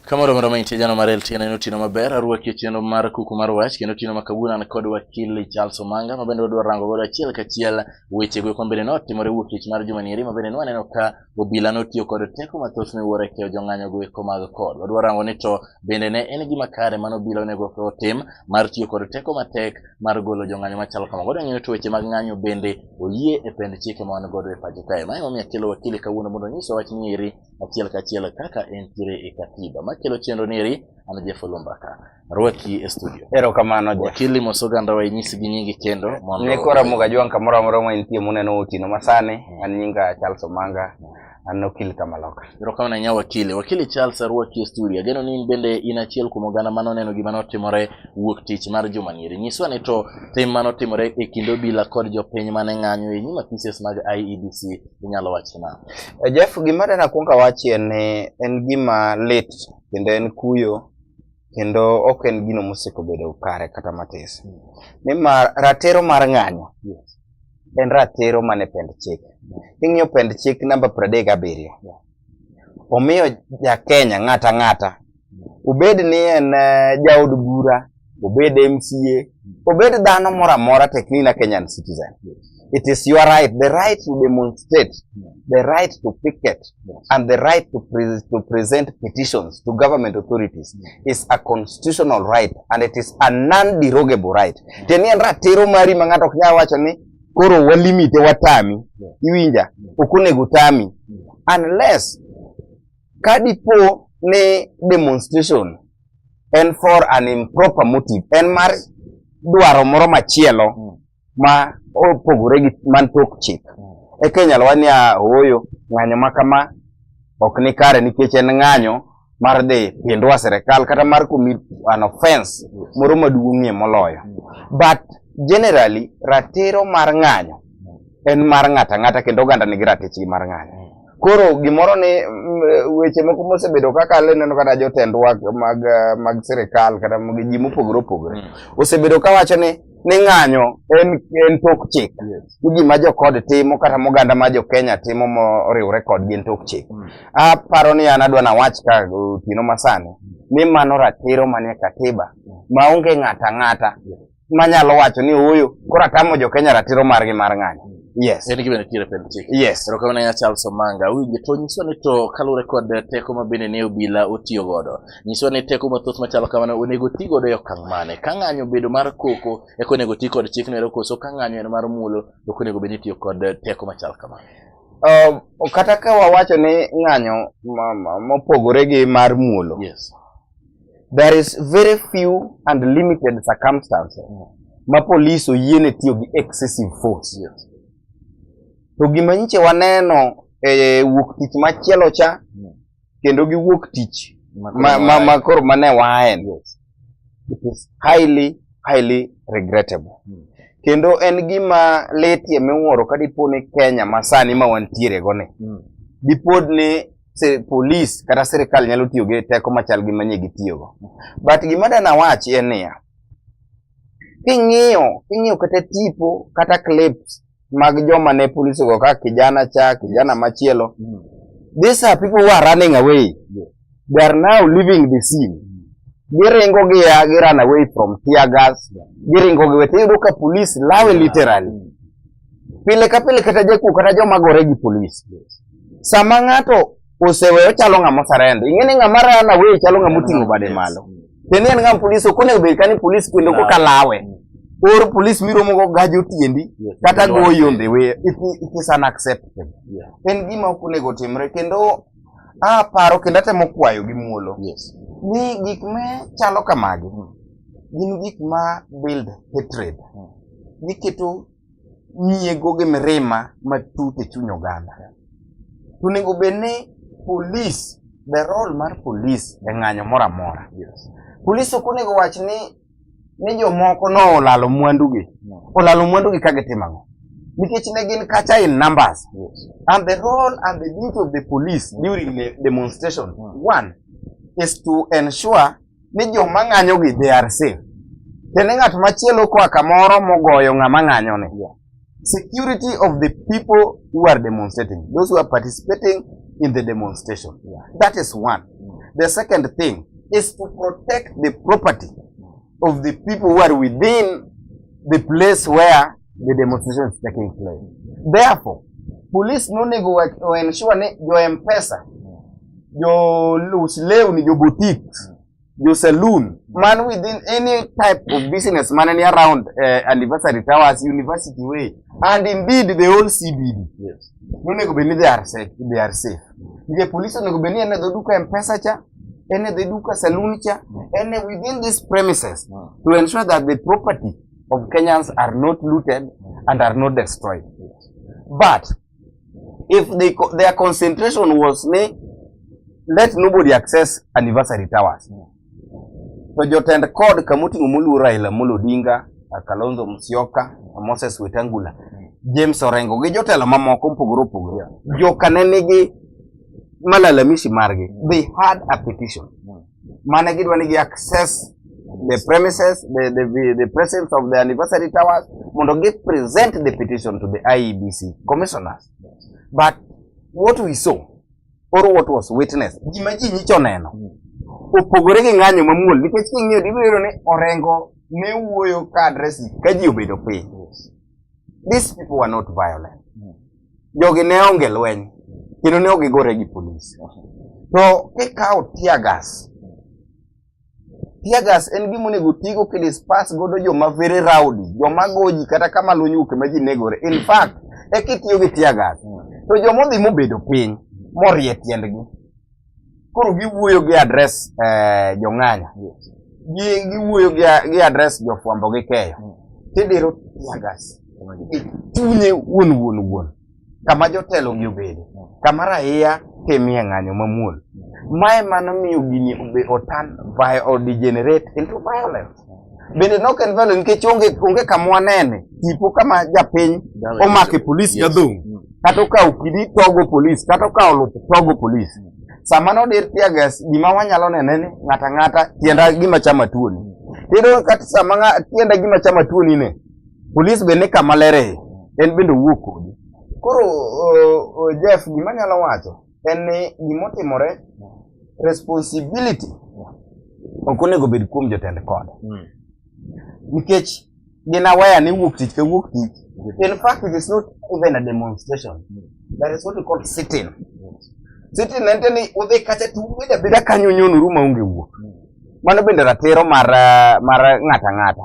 Kamoro moro ma intie jana mar LTN en otieno maber arwaki otieno mar kuku mar wach kendo otieno ma kawuono an kod wakili Charles Omanga ma bende wadwa rango godo achiel kachiel wechego eko mabende notimore wuok tich mar juma nieri ma bende nwaneno ka Obila notiyo kod teko mathoth ne wuoro e keyo jong'anyo go eko mag kod. Wadwa rango ni to bende ne en gima kare mano obila onego otim mar tiyo kod teko matek mar golo jong'anyo machalo kamago. Wadwa ng'eyo to weche mag ng'anyo bende oyie e pend chike ma wan godo e pacho kae. Mae momiyo akelo wakili kawuono mondo onyisa wach ni eri achiel kachiel kaka entiere e katiba. Makelo chenro ni eri an Jeff Olumba ka. rwaki e studio. Erokamano ja. Wakili mos oganda wa inyisi gi nyingi kendo mondo ne kora muga jwang kamoro amora ma intie muneno otieno masani mm. an nyinga Charles Omanga an okil kamaloka. Erokamano nya wakili. Wakili Charles arwaki e studio. Ageno ni in bende in achiel kuom oganda mano neno gima notimore wuok tich mar juma nieri. Nyiswa ni to tim mano timore e kind obila kod jopiny mane ng'anyo e nyima pieces mag IEBC inyalo wacho na. Eh, Jeff gima dana kuonga wachi en en gima lit kendo en kuyo kendo ok en gino mosiko bedo kare kata matis nimar ratiro mar ng'anyo en ratiro mane pend chik king'iyo pend chik namba pradek gabiriyo omiyo jakenya ng'ata ng'ata obed ni en eh, jaod bura obed mca obed dhano moro amora teknina kenyan citizen It is your right, the right to demonstrate, the right to picket, and the right to, pre to present petitions to government authorities is a constitutional right and it is a non-derogable right. Tiende en ratiro mari ma ng'ato ok nyal wacho ni koro walimite watami, iwinja, ok onego tami unless ka dipo ni demonstration en for an improper motive, en mar dwaro moro machielo mm. ma opogore gi man tok chik mm. eka inyalo wach niya ooyo ng'anyo ma kama ok ni kare nikech en ng'anyo mar dhi pindwa sirikal kata mar commit an offense moro maduong'ie moloyo but generally ratiro mar ng'anyo en mar ng'ata ng'ata kendo oganda nigi ratichgi mar ng'anyo koro gimoro ni mm, weche moko mosebedo kaka le neno kata jotendwa mag mag sirikal kata ji mopogore opogore mm. osebedo kawacho ni ni ng'anyo en en tok chik yes. ni gima jokod timo kata moganda ma jokenya timo moriwre kodgi en tok chik mm. aparo ni an adwa nawach ka otieno masani ni mano ratiro manie katiba maonge ng'ata ng'ata yes. manyalo wacho ni huyu koro atamo jokenya ratiro margi mar ng'anyo mm. Yes. En gima nitiere pend chik. Yes. Ero kamana ya Charles Omanga. Winje to nyiso ni to kalure kod teko mabende ne obila otiyo godo. Nyiswa ni teko mathoth machalo kamano onego ti godo e okang' mane? Ka ng'anyo obedo mar koko, eka onego ti kod chikno ero koso ka ng'anyo en mar muolo, to ok onego bed ni itiyo kod teko machal kamano? Uh, kata ka wawacho ni ng'anyo mopogore gi mar muolo. Yes. There is very few and limited circumstances mm. ma polis oyiene tiyo gi excessive force. Yes. To gima nyiche waneno e wuok tich machielo cha mm. kendo giwuok tich ma koro mane waen it is highly highly regrettable hmm. kendo en gima letie miwuoro ka dipo ni Kenya masani ma wantiere go ni hmm. dipod ni se polis kata sirikal nyalo tiyo gi teko machal gi manye gitiyogo but gima dana wach en niya king'iyo king'iyo kata tipo kata clips mag joma ne polisi go ka kijana cha kijana machielo mm. these are people who are running away yeah. they are now leaving the scene mm. giringo gi ya gi run away from tear gas yeah. giringo gi wete yudo ka police lawe yeah. literally mm. pile ka pile kata jakuo kata joma gore gi police yes. sama ng'ato osewe ochalo ng'ama oserendo. Ing'e ni ng'ama rana we chalo ng'ama oting'o bade malo. Tiende en ng'ama polis ok onego bed kani polis kendo ko kalawe. Or polis miromo go gaji otiendi kata goyi on the way. It, it is unacceptable. En gima ok onego otimre kendo aparo kendo atemo kwayo gi muolo ni gik me chalo kamagi gin gik ma build hatred. Giketo nyiego gi mirima matut e chuny oganda. To onego bed ni polis, the role mar polis e ng'anyo moro amora. Polis ok onego wach ni ni jomoko no olalo mwandugi. Olalo mwandugi ka gitimo ang'o? Nikech ne gin kacha in numbers. And the role and the duty of the police during the demonstration, one, is to ensure ni joma ng'anyogi they are safe. Kendo ng'at machielo koa kamoro mogoyo ng'ama ng'anyoni. Security of the people who are demonstrating, those who are participating in the demonstration. That is one. The second thing is to protect the property of the people who are within the place where the demonstrations taking place. Therefore, police nonego ensure ni jo M-Pesa, jo lus lewni, jo boutiques, jo saloon, man within any type of business man any around uh, anniversary towers, university way, and indeed the whole CBD. Yes. Nonego bed ni they are safe, they are safe. Nige police onego bed ni en e dho duka M-Pesa cha, en e dho duka saloon cha, en e within these premises to ensure that the property of Kenyans are not looted and are not destroyed. But if they, their concentration was ne, let nobody access anniversary towers. To jotend kod kamoting'o moluo Raila Amolo Odinga, Kalonzo Musyoka, Moses Wetangula, James Orengo gi jotelo mamoko mopogore opogore. Joka ne nigi malalamishi margi. They had a petition. mane gidwa ni gi access the premises the, the, the presence of the anniversary towers mondo gi present the petition to the IEBC commissioners but what we saw or what was witnessed gima ji nyicho neno opogore gi ng'anyo mamuol nikech king'iyo dibiro ni orengo ne wuoyo ka adresi ka ji obedo piny These people were not violent. Hmm. Jogi ne onge lweny kendo ne ok gigore gi polis. To kikawo tear gas, tear gas en gima onego otigo kidispas godo joma very rowdy, joma goji kata kama lweny wuoke ma ji negore. In fact, ekitiyo gi tear gas, to joma odhi mobedo piny morie tiendgi Koro giwuoyo gi address eh, jong'anya giwuoyo gi address jofwambo gi keyo hmm. tidiro tiagas chunye wuon wuon wuon kama jotelo gi obede hmm. kama raia timie ng'anyo mamuol hmm. mae mano miyo gini otan odegenerate into violence bende nok en value nikech onge onge kama wanene tipo kama japiny omake polis gadhong mm. kata okawo kidi togo polis kata okawo lup togo polis mm. sama nodir tiagas gima wanyalo nene ni ng'ata ng'ata tienda gima chama tuoni mm. tiyudo kata sama tienda gima chama tuoni ne polis bende kama lere en bende owuok kodi koro Jeff gima nyalo wacho en ni gimotimore responsibility ok onego bed kuom jotend kod hmm. nikech gin aware ni wuok tich ka wuok tich in fact it is not even a demonstration hmm. that is what we call sitting sitting en ni udhi kacha to ubed abeda kanyo nyonoru maonge wuok hmm. mano bende ratiro mar mar ng'ata ng'ata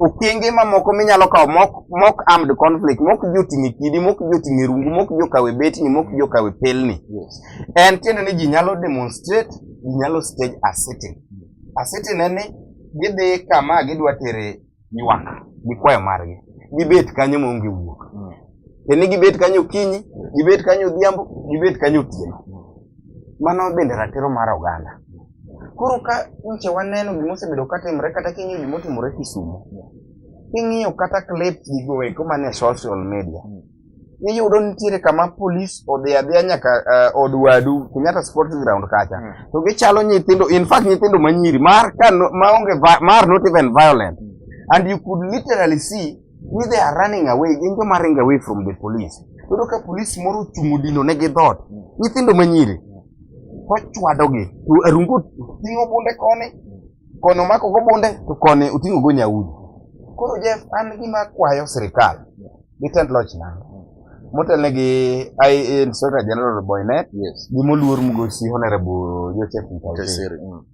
okenge mamoko minyalo kawo mok mok armed conflict mok joting'e kidi mok joting'e rungu mok jokawe betni mok jokawe pelni yes. en tiende ni ji nyalo demonstrate ji nyalo stage a sitting a sitting en ni gidhi kama gidwa tere ywak gi kwayo margi gibet kanyo maonge wuok mm. en ni gibet kanyo kinyi gibet kanyo odhiambo gibet kanyo otieno Mano bende ratiro mar oganda. Koro ka nyiche waneno gima osebedo ka timre kata king'iyo gima otimore Kisumo, king'iyo kata clips gigo eko man e social media, iyudo nitiere kama polis odhi adhiya nyaka eh, od wadu Kenyatta Sports Ground kacha. Mm. To gichalo nyithindo, in fact nyithindo manyiri, mar ka no- maonge vi- mar not even violent. And you could literally see ni they are running away gin joma ringo away from the police yudo ka police moro ochung' odino ne gi dhot nyithindo manyiri kochwadogi to arungo ting'o bunde koni koni omako go bunde to koni oting'o go nyaudi koro jeff an gima kwayo sirikal gi tend loch nanga motelne gi inspector general boynet yes. gi moluor mugosi honorable joseph mkaiseri mm.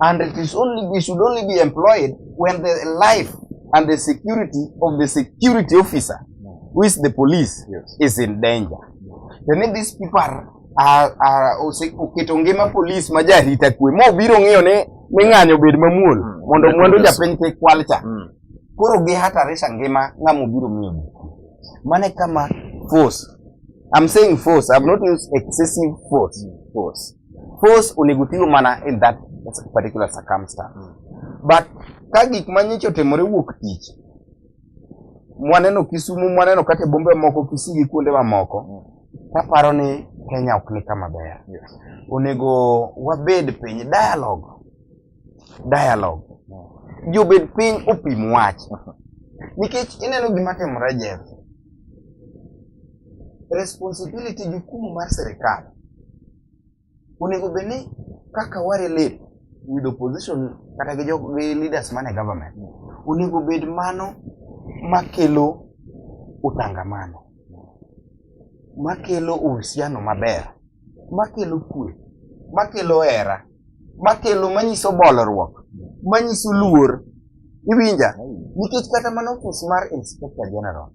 and it is only we should only be employed when the life and the security of the security officer who is the police yes. is in danger then if these people are oketo ngima polis ma jarita kwe ma obiro ng'iyo ni ni ng'anyo obed mamuol mm. mondo mwandu japiny kik kwal cha mm. koro gihatarisha ngima ng'ama obiro miyo mane kama force I'm saying force. I've not used excessive force. Force. force onego tigo mana in that particular circumstance mm. but ka gik ma nyicha otimore wuok tich mwaneno Kisumu mwaneno kata bombe moko Kisii gi kuonde mamoko mm. kaparo ni Kenya ok ni kama ber yes. onego wabed piny dialogue dialogue jobed piny opim wach nikech ineno gima timore jeff responsibility jukumu mar sirikal onego bed ni kaka warelate with opposition kata gi jo- gi leaders man e government onego bed mano makelo utangamano makelo uhusiano maber makelo kwe makelo hera makelo manyiso bolruok manyiso luor iwinja nikech kata mana ofis mar inspector general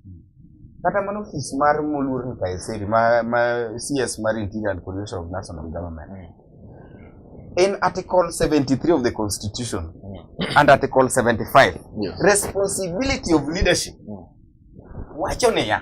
kata mana ofis mar moluor Nkaiseri ma, ma CS mar Interior and Coordination of National Government in article 73 of the constitution and article 75 Yes. responsibility of leadership wacho niya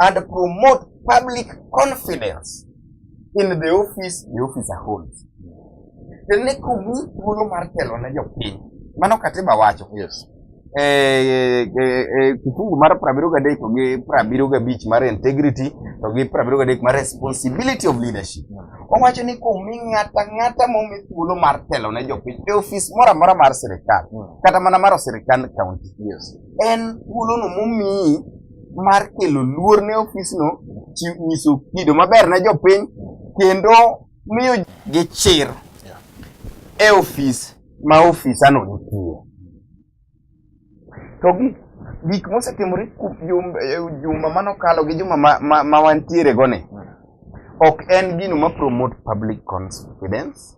and promote public confidence in the office the officer holds. Tene kumi thuolo mar telo ne jopiny. Mano katiba wacho. Yes. E, e, e, kifungu mar prabiro gadek to gi prabiro gabich mar integrity to gi prabiro gadek mar responsibility of leadership. Owacho ni kumi ng'ata ng'ata momi thuolo mar telo ne jopiny e ofis moro amora mar sirikal hmm. kata mana mar sirikand county. Yes. En thuolono momiyi mar kelo luor ne ofisno, nyiso kido maber ne jopiny kendo miyo gi chir e ofis ma ofisano nitie. To gi gik mosetimore juma manokalo gi juma ma wantiere go ni ok en gino ma promote public confidence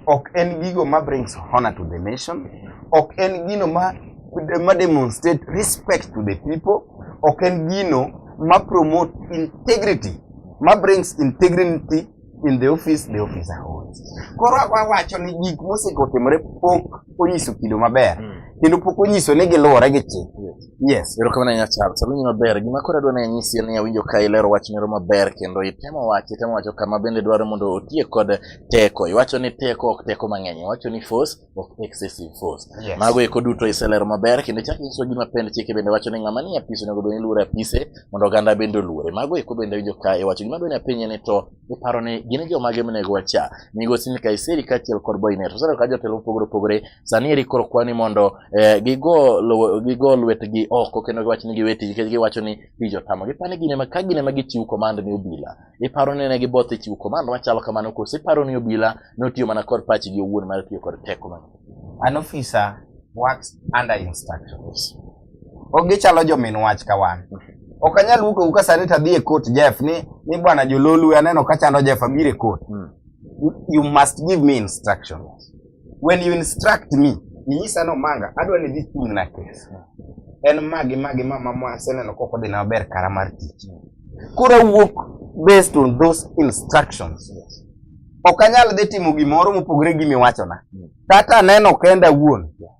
ok en gigo ma brings honor to the nation ok en gino ma, ma demonstrate respect to the people ok en gino ma promote integrity ma brings integrity in the office the officer holds koro wawacho ni gik mosekotimore pok onyiso kido maber hmm. kendo pok onyiso ni giluwore gi chik Yes, erokamano ahinya Charles. Awinjo maber. Gima koro adwa ni anyisi en ni awinjo ka ilero wach moro maber kendo itemo wacho, itemo wacho kama bende dwaro mondo otiek kod teko. Iwacho ni teko ok teko mang'eny, iwacho ni force ok excessive force. Yes. Mago eko duto iselero maber kendo ichako inyiso gima pend chike bende wacho ni ng'ama ni apisi onego bed ni luoro apise mondo oganda bende oluore. Mago eko bende awinjo ka iwacho. Gima dwa ni apenji ni to iparo ni gin jomage monego wacha migosi ni kaiseri kaachiel kod boynet oseneno ka jotelo mopogore opogore sani eri koro kwani mondo eh, gigo lowo- gigo lwetgi oko kendo giwacho ni giwe tich nikech giwacho ni tich otamo gipani gine ma ka gine ma gichiw command ni obila iparo ni ne giboth e chiwo command machalo kamano koso iparo ni obila notiyo mana kod pachgi owuon mar tiyo kod teko mang'eny an officer works under instructions Ok gichalo jomin wach ka wan. Ok anyal wuok awuoka sani to adhi e court Jeff ni ni bwana jololu aneno ka chando Jeff abiro e court. Mm. You must give me instructions. When you instruct me, inyisa no manga adwa ni dhi chung na kes. En magi magi ma mama aseneno koko dhi na ber kara mar tich. Koro wuok based on those instructions. Yes. Ok anyal dhi timo gimoro mopogore gi miwachona. Mm. Kata aneno kenda wuon. Yeah.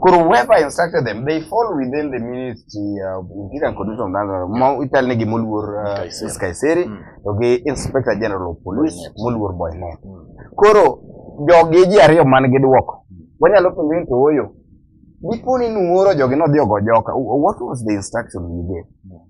koro whoever instructed them they fall within the ministry of interior and condition of Nyanza ma ichal negi moluor uh, Kaiseri. Kaiseri Mm. to gi inspector general of police Boynet. moluor Boynet Mm. koro jogi ji ariyo man gi dwoko wanyalo penjo ni to oyo dipo ni nuoro jogi nodhi ogo joka Wh- what was the instruction you gave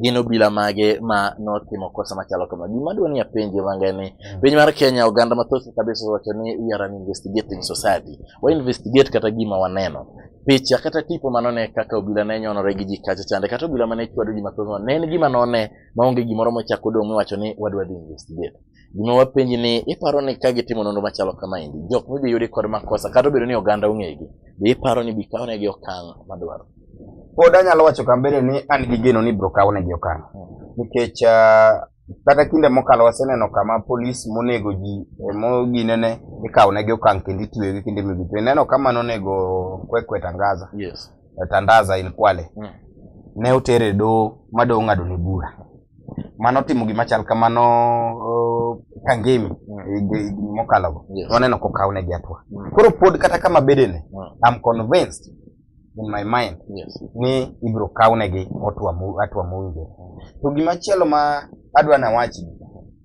gin obila mage ma notimo kosa machalo kama gima dwa ni apenje manga ni mm. piny mar Kenya oganda mathoth kabisa wacho ni we are an investigating society wa investigate kata gima waneno picha kata tipo mano ne kaka obila ne nyonore gi ji kacha chande kata obila mane chwado ji mathoth ne en gima none maonge gimoro mochako dong' miwacho ni wadwa dhi investigate Gima wapenji ni iparo ni ka gitimo nonro machalo kama endi, jok midhi yudi kod makosa kata obedo ni oganda ong'egi, be iparo ni bikawnegi okang' madwaro? Pod anyalo wacho kambere ni an gi geno ni biro kawnegi okang'. Hmm. Nikech ah, kata kinde mokalo waseneno kama polis monego ji e moginene ikawnegi okang' kendo itwegi kinde mibi. To ineno kama nonego Kwekwe Tangaza. Yes. Eh, Tandaza in Kwale. Hmm. Ne otere doho ma doho ng'adone bura. mane otimo gima chal kamano uh, Kangemi mm. higni mokalogo yes. waneno kokawnegi atua mm. koro pod kata kama bedene mm. I'm convinced in my mind yes. ni ibiro kawnegi atua mowinjore mm. to gima chielo ma adwa nawachi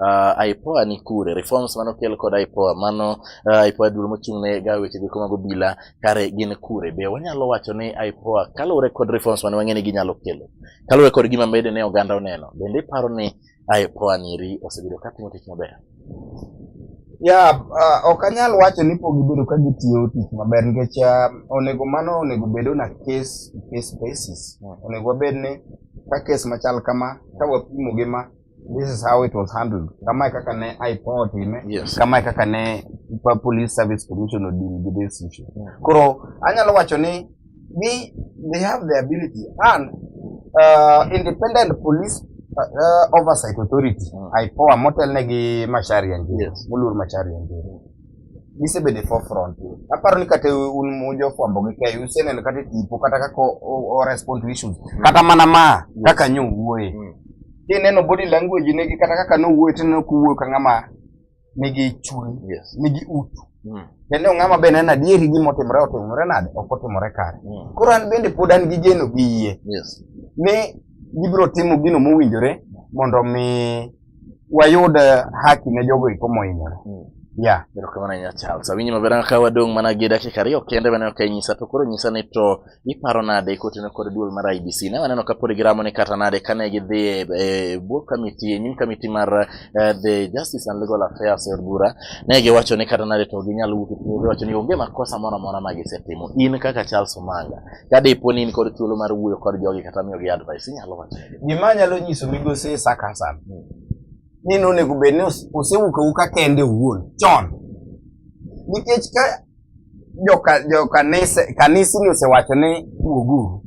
uh, IPOA ni kure reforms mano kel kod IPOA mano uh, IPOA duol mochung' ne ga weche giko mag obila kare gin kure be wanyalo wacho ni IPOA kaluwore kod reforms mane wang'e ni ginyalo kelo kaluwore kod gima mede ne oganda oneno bende iparo ni IPOA niri osebedo ka timo tich maber ya uh, ok anyal wacho ni pok gibedo ka gitiyo tich maber nikech uh, onego mano onego bed na case to case basis hmm. onego wabed ni ka case machal kama ka wapimo gi ma this is how it was handled kama kaka ne ipo time yes. kama kaka ne police service commission odil gi this issue yeah. koro anyalo wacho ni we they have the ability and uh, independent police uh, oversight authority mm. ipoa motelne gi mashari ya njiri yes. mulur mashari ya njiri gisebedo e forefront. Aparo ni kata un jofwambo gi keyo useneno kata e tipo kata kaka o respond to issues. Mm. Kata mana ma kaka nyo wuoye. Mm. Kineno body language negi kata kaka nowuoye tineno kuwuoyo ka ng'ama nigi chuny, nigi utu. Mm. Kendo ng'ama be neno adieri gima otimore otimore nade ok otimore kare. Koro an bende pod an gi geno gi yie. Ni gibiro timo gino mowinjore mondo mi wayud eh, haki ne jogo iko mohinyore hmm. ya erokamano ahinya charles awinji maber ang' ka wadong' mana gi dakika ariyo kende mane ok inyisa to koro nyisa ni to iparo nade kotino kod duol mar ibc ne waneno ka pod giramo ni kata nade kane gidhi e, e bwo kamiti e nyim kamiti mar eh, the justice and legal affairs e od bura ne giwacho ni kata nade to ginyalo wuok e giwacho ni onge makosa moro amora ma gisetimo in kaka charles omanga ka dipo ni in kod thuolo mar wuoyo kod jogi kata miyogi advice inyalo wacho gima anyalo nyiso migosi Isaac Hassan ni nonego bed ni ose- osewuok awuka kende owuon chon nikech ka joka jo kanise kanise ni osewacho ni wuoguru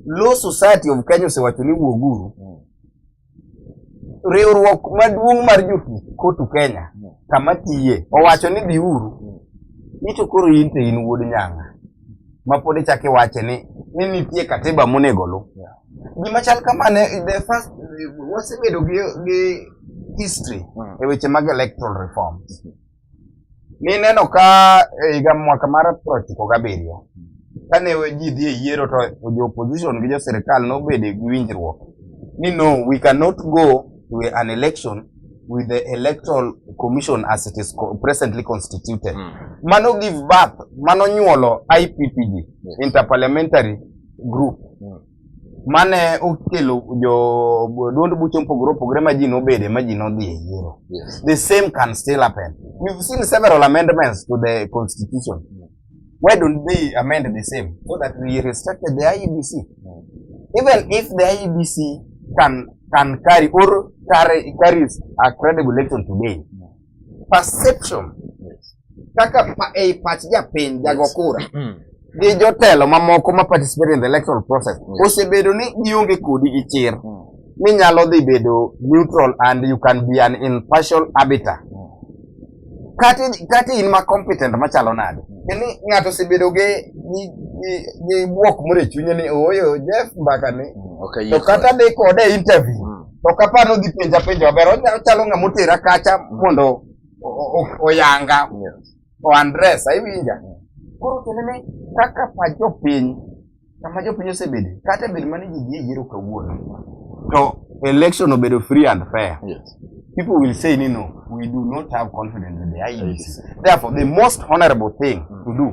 law society of Kenya osewacho ni wuoguru riwruok maduong' mar jotuch kotu Kenya kama tiye owacho ni biuru ni to koro in to in wuod nyanga ma pod ichak iwache ni ni nitie katiba monego lu gima chal kamane the first wasebedo gi, gi history e weche mag electoral reforms Nineno ka e higa mwaka mar prochiko gabiriyo, kane ji dhi e yiero to jo opposition gi jo sirkal nobedo gi winjruok ni no, we cannot go to an election with the electoral commission as it is presently constituted. Mm. Mano give birth, mano nyuolo IPPG, Interparliamentary Group. Mm. mane okelo jo duond buche mopogore opogore ma ji nobede ma ji nodhi e yiero the same can still happen we've seen several amendments to the constitution why don't they amend the same so that we respect the IEBC even if the IEBC can can carry or carry carries a credible election today perception kaka ei pach japiny jago kura mm. gi jotelo mamoko ma participate in the electoral process osebedo ni gionge kodi gi chir mm. ni nyalo dhi bedo neutral and you can be an impartial arbiter mm. kati kati in ma competent machalo nade ni ng'ato osebedo gi gi bwok moro e chunye ni ooyo Jeff mbaka ni to kata dhi kode interview Ok apar nodhi penja penja maber. Onya- Ochalo ng'ama otera kacha mondo o- o- o- oyanga o andres iwinja. Koro kendo ni kaka pa jopiny kama jopiny osebedo kata bedo mane ji dhi e yiero kawuono to election obedo free and fair. Yes. people will say, you know, we do not have confidence in the IEBC. Therefore, the most honorable thing to do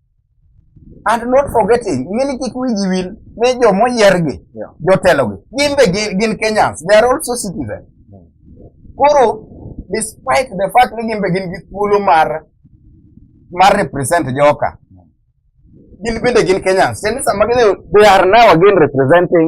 and not forgetting ng'eni kik wiji wil ni joma oyiergi jotelogi gin be gin Kenyans they are also citizens hmm. koro despite the fact ni gin be gin gi thuolo mar mar represent joka hmm. gin bende gin Kenyans tiende sama gidhi they are now again representing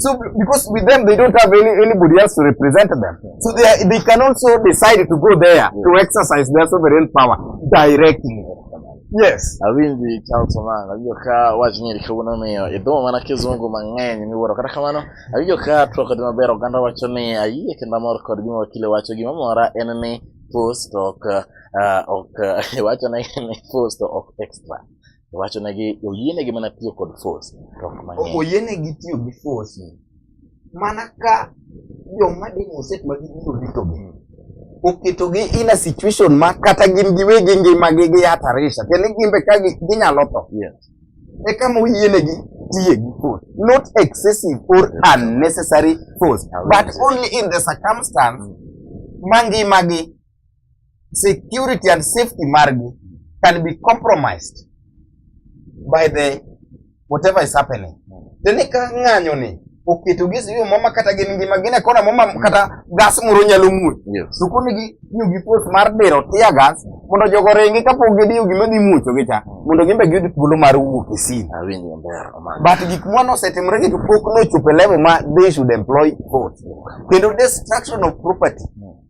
So because with them they don't have any, anybody else to represent them. So they, are, they can also decide to go there to exercise their sovereign power directly. Yes. Abindi Charles Omanga abyo ka wajinyeri kabona meyo edo mana kizungu mang'eny miwuoro kata kamano abyo ka twak kod maber oganda wacho ni ayie kendo amor kod gima wakile wacho gima mora en ni post ok ah, ok wacho ni ni post ok extra Wacho na gi oyene gi mana tiyo kod force. Oyene gi tiyo gi force. Mana ka yo ma di muset ma gi biro rito gi. Hmm. Oketo gi in a situation ma kata gin gi wegi ngi ma gi gi atarisha. Kene gin be ka gi nyalo to. Yes. E kama oyene gi tiye gi force. Not excessive or unnecessary force. But only in the circumstance hmm. ma ngi ma gi. security and safety margi can be compromised by the whatever is happening tene ka ng'anyo ni oketo gi siyo mama kata gin ngima gine kona mama kata gas moro nyalo muoch yes. to koni gi tiyo gi pos mar dero tia gas mondo jogo ringi kapok gidiyo gima dhi muocho gi cha mondo gimbe giyud thuolo mar wuok e sin but gik mwa nosetimre gi to pok nochopo e level ma they should employ force kendo destruction of property mm.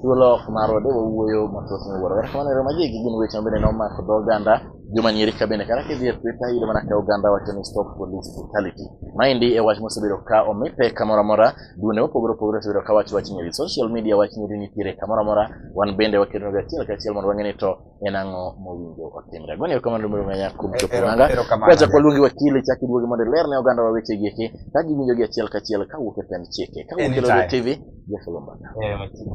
Thuolo ok marwa de wawuoyo mathoth ni wuoro. Erokamano ero magi gin weche ma bende nomako dho oganda juma nyiri ka bende kata kidhi e Twitter iyudo mana ka oganda wacho ni stop police brutality. Maendi e wach mosebedo ka omi pek kamoro amora duonde mopogore opogore osebedo ka wacho wach nyiri. Social media wach nyiri nitiere kamoro amora wan bende waketonega achiel kachiel mondo wang'e ni to en ang'o mowinjo otimre goni erokamano mondo ng'anya kuom E- chopo ero- nanga erokamano. kwacha kwaluongi wakili chak iduogi mondo iler ne oganda wa weche gieki ka giwinjo gi achiel kachiel kawuok e pend chike kawuok e Anytime. Lolwe tv jafelo mbaka Eh, machiegni.